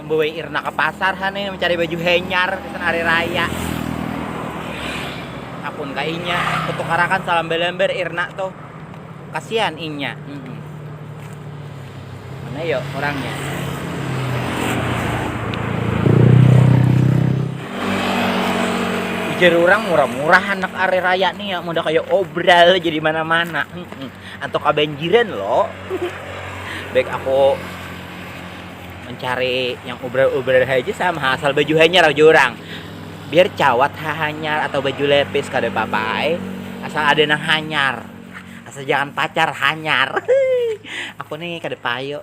membawa Irna ke pasar ha nih mencari baju henyar di hari raya apun ka inya kutukarakan salam belember Irna tuh kasihan inya mm -mm. mana yuk orangnya ujar orang murah-murah anak hari raya nih ya udah kayak obral jadi mana-mana mm -mm. Anto kabanjiran lo. Baik aku mencari yang ubrar-ubrar haja sama asal baju hanyar aja orang. Biar cawat hanyar atau baju lepis kada apa-apa ai. Asal ada nang hanyar. Asal jangan pacar hanyar. aku nih kada payu.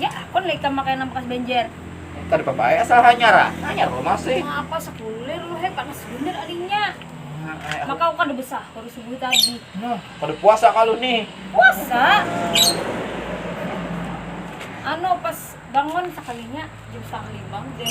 Ya akun lah ikam makanan bekas banjar. Kada papa ai asal hanyar ah. Hanyar lo masih. Ngapa sekuler lo he panas banar arinya. Maka aku kada besahur subuh tadi. Nah, kada puasa kalu nih. Puasa. Anu pas bangun sakalinya jam setengah lima udah.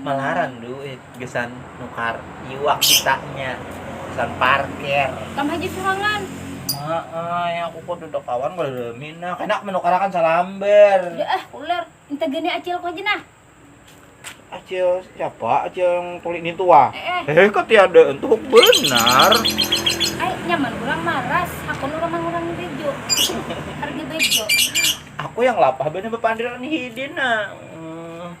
Malaran duit gasan nukar iwak kitanya, gasan parkir. Kam haja surangan. Maai, aku kadada kawan kada rami nah. Kena manukarakan salambar. Sudah ah, ular. Inta gani acilku haja nah. Acil siapa? Acil yang tuli ni tua. Eh, eh. Eh, katiada tuhuk benar. Ai, nyaman urang maras. Hakun urang mangurangi bejo. Harga bejo. Aku yang lapah banar bapandiran hidin nah.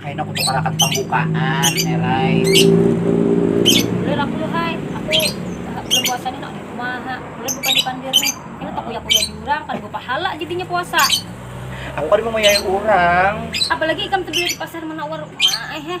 Kaina kutukarakan pambukaan erai. Bulir aku lu hai, aku bulan puasa ni nak dirumaha, bulir bukan di pandir ni, ini takuya-kuya diurang kada bapahala jadinya puasa. Aku kada mamuyai urang. Apalagi ikam tebelah di pasar manawar uma ai heh.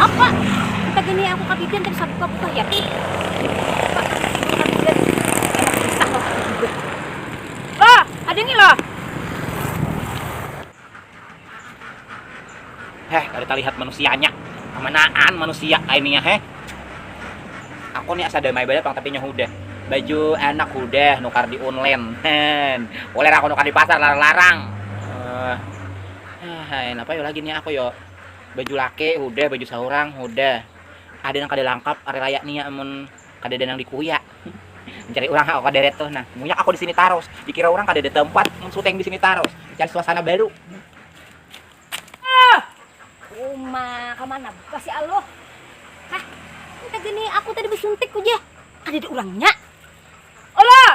Apa? Kita gini aku katidian tadi sabuka buka ya. Apa? Katidian. Lah, ada ni lah. Heh, kada terlihat manusianya. Amanaan manusia kayak ini ya, heh. Aku ni asa damai banar pang tapi nyahu deh baju anak udah nukar di online boleh aku nukar di pasar larang-larang uh. Hai, napa yo lagi nih aku yo. Baju laki udah, baju saurang udah. Ada nang kada langkap hari raya nih ya amun kada ada nang dikuyak. Mencari orang aku kada ada tuh nah. Munyak aku di sini tarus. Dikira orang kada ada tempat mun suteng di sini tarus. Mencari suasana baru. Ah! Uma, kamana buka si Aluh? Hah? Nang gini aku tadi besuntik uja. Kada ada urangnya. Alah!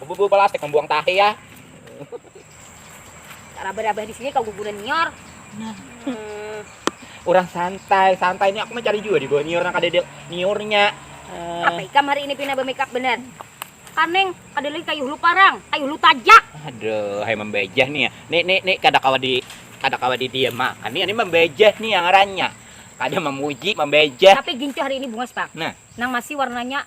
Bubu plastik membuang tahi ya. Raba-raba di sini kau guguran nyor. Hmm. Orang santai, santai ini aku mencari juga di bawah nyor ada de, nyornya. Uh. Apa ikam hari ini pina bermakeup bener? Kaneng, ada lagi kayu hulu parang, kayu hulu tajak. Aduh, hai membejah nih ya. Nih, nih, nih, kada kawa di kada kawa di dia makan. Nih, ini membejah nih yang rannya. Kada memuji, membejah. Tapi gincu hari ini bungas, Pak. Nah. Nang masih warnanya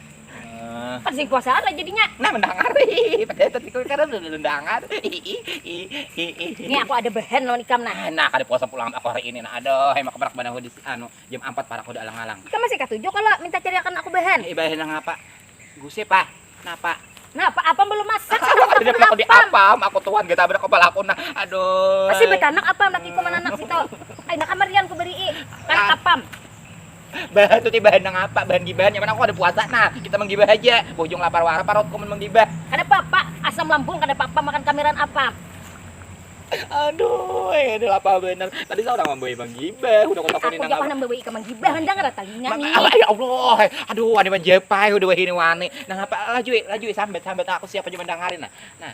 Kan sing kuasa ada jadinya. Nah, mendangar. Padahal tadi kau karena udah mendangar. Ini aku ada behen lawan ikam nah. Nah, kada puasa pulang aku hari ini nah. Aduh, emang keberak banar di anu jam 4 parak udah alang-alang. Ikam masih katuju kalau minta cariakan aku behen. Eh, behen nang apa? Gusip ah. Napa? Napa apam belum masak? Ada belakang di apam. Aku tuan kita berak kepala aku nah. Aduh. Masih betanak apam laki ku mananak situ. Ay, nakamarian ku beri. Kan apam. Bahan tuh teh bahan nang apa? Bahan gibahan nyaman aku kada puasa nah, kita manggibah haja. Bujung lapar wara parutku mun manggibah. Kada papa, asam lambung kada papa makan kamiran apam. Aduh ini lapah banar. Tadi saurang mambawi manggibah, hudah ku takuni nang apa. Aku ja pang nang mambawi ikam manggibah, hanyar kada talinga ni. Ya Allah, aduh wani manjapai hudah wahini wani. Nang apa, lajui, lajui sambat, sambat aku siap haja mandangarin nah. Nah.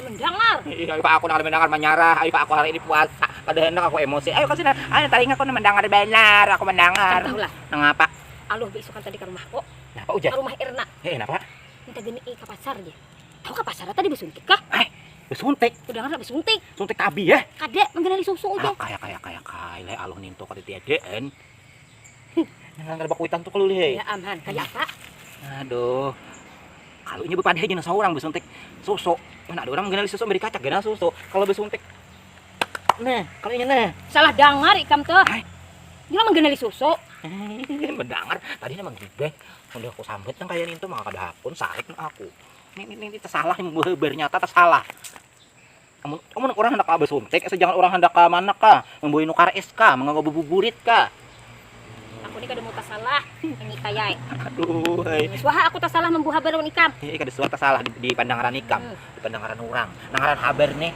mendangar iya pak aku nak mendangar menyarah ayo pak aku hari ini puasa kada hendak aku emosi ayo kasih nah ayo talinga aku mendengar benar aku mendengar tahu lah nangapa aluh beisukan tadi ke rumah kok napa ujar ke rumah Erna eh napa minta gini eh ke pasar dia tahu ke pasar tadi besuntik kah eh besuntik udah nggak besuntik suntik tabi ya kada menggenali susu ujar kaya kaya kaya kaya aluh ninto kata tiadaan Nang kada bakuitan tu kalu lih ai. Ayam han, kaya apa? Aduh. Kalu inya bepadah aja nang saurang besuntik susu. Mana ada urang mengganali susu beri kacak ganal susu. Kalu besuntik Nah, kalu inya nah. Salah dangar ikam tuh. Hai. Inya mengganali susu. Mendangar tadi nang manggibeh. Udah aku sambat nang kaya nintu maka kada hakun sarik nang aku. Ini ini ini tersalah yang bernyata tersalah. Amun, amun urang handak basuntik asa jangan urang handak manak ka, mambuai nukar es ka, manggawa babuburit ka. Aku ni kada mau tasalah manyita ya ai. Aduh ai. Suah ha aku tasalah mambawa habar lawan ikam. Hi, kada suah tasalah di di pandangaran ikam. Di pandangaran urang nang ngaran habar nih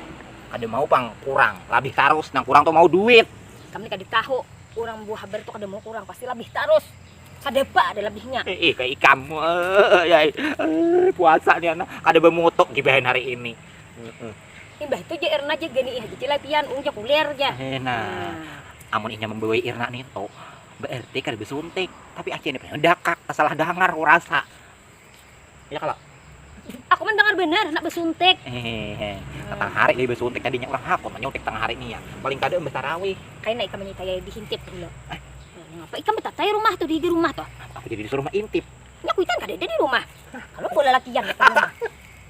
kada mau pang kurang, labih tarus. Nang kurang tu mau duit. Ikam ni kada tahu, urang mambawa habar tu kada mau kurang, pasti labih tarus. Kadapa ada labihnya. Hi, kaya ikam. Ai, puasa ni handak kada bamutuk gibahan hari ini. Imbah itu ja Irna ja ganiih haja cila pian, ung ja kulir ja. Nah, amun inya mambawai Irna nitu, baarti kada basuntik, tapi acil ni pina dakak, tasalah dangar ku rasa. Ya kalo? Aku mandangar banar handak basuntik. Tatang hari lagi basuntik tadi nya, urang hakun manyuntik tangah hari nih ya, paling kada imbah tarawih. Kaina ikam manyitayai dihintip gula. Hah? Mengapa ikam batatayai rumah tuh di dirumah tuh? Aku jadi disuruh maintip. Nya kuitan kadada dirumah. Hah, kalu bawa lalakian nya dirumah.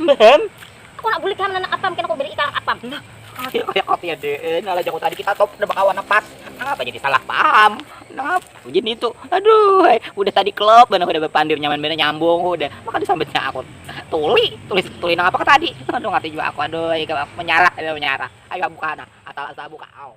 Mbaham. Aku nak bulik ham nanak apam kena ku beri ikam apam. Nah, adik kaya apa ya dek? Eh, nalah jaku tadi kita top udah bakawan pas. Nangapa jadi salah paham? Nangapa jadi itu? Aduh, hai. udah tadi klop banar udah berpandir nyaman banar nyambung udah. Maka disambutnya aku tuli, tuli tuli nangapa ke tadi? Aduh, ngerti juga aku. Aduh, ikam menyarah, aduh menyarah. Ayo buka nah, asal asal buka. Au.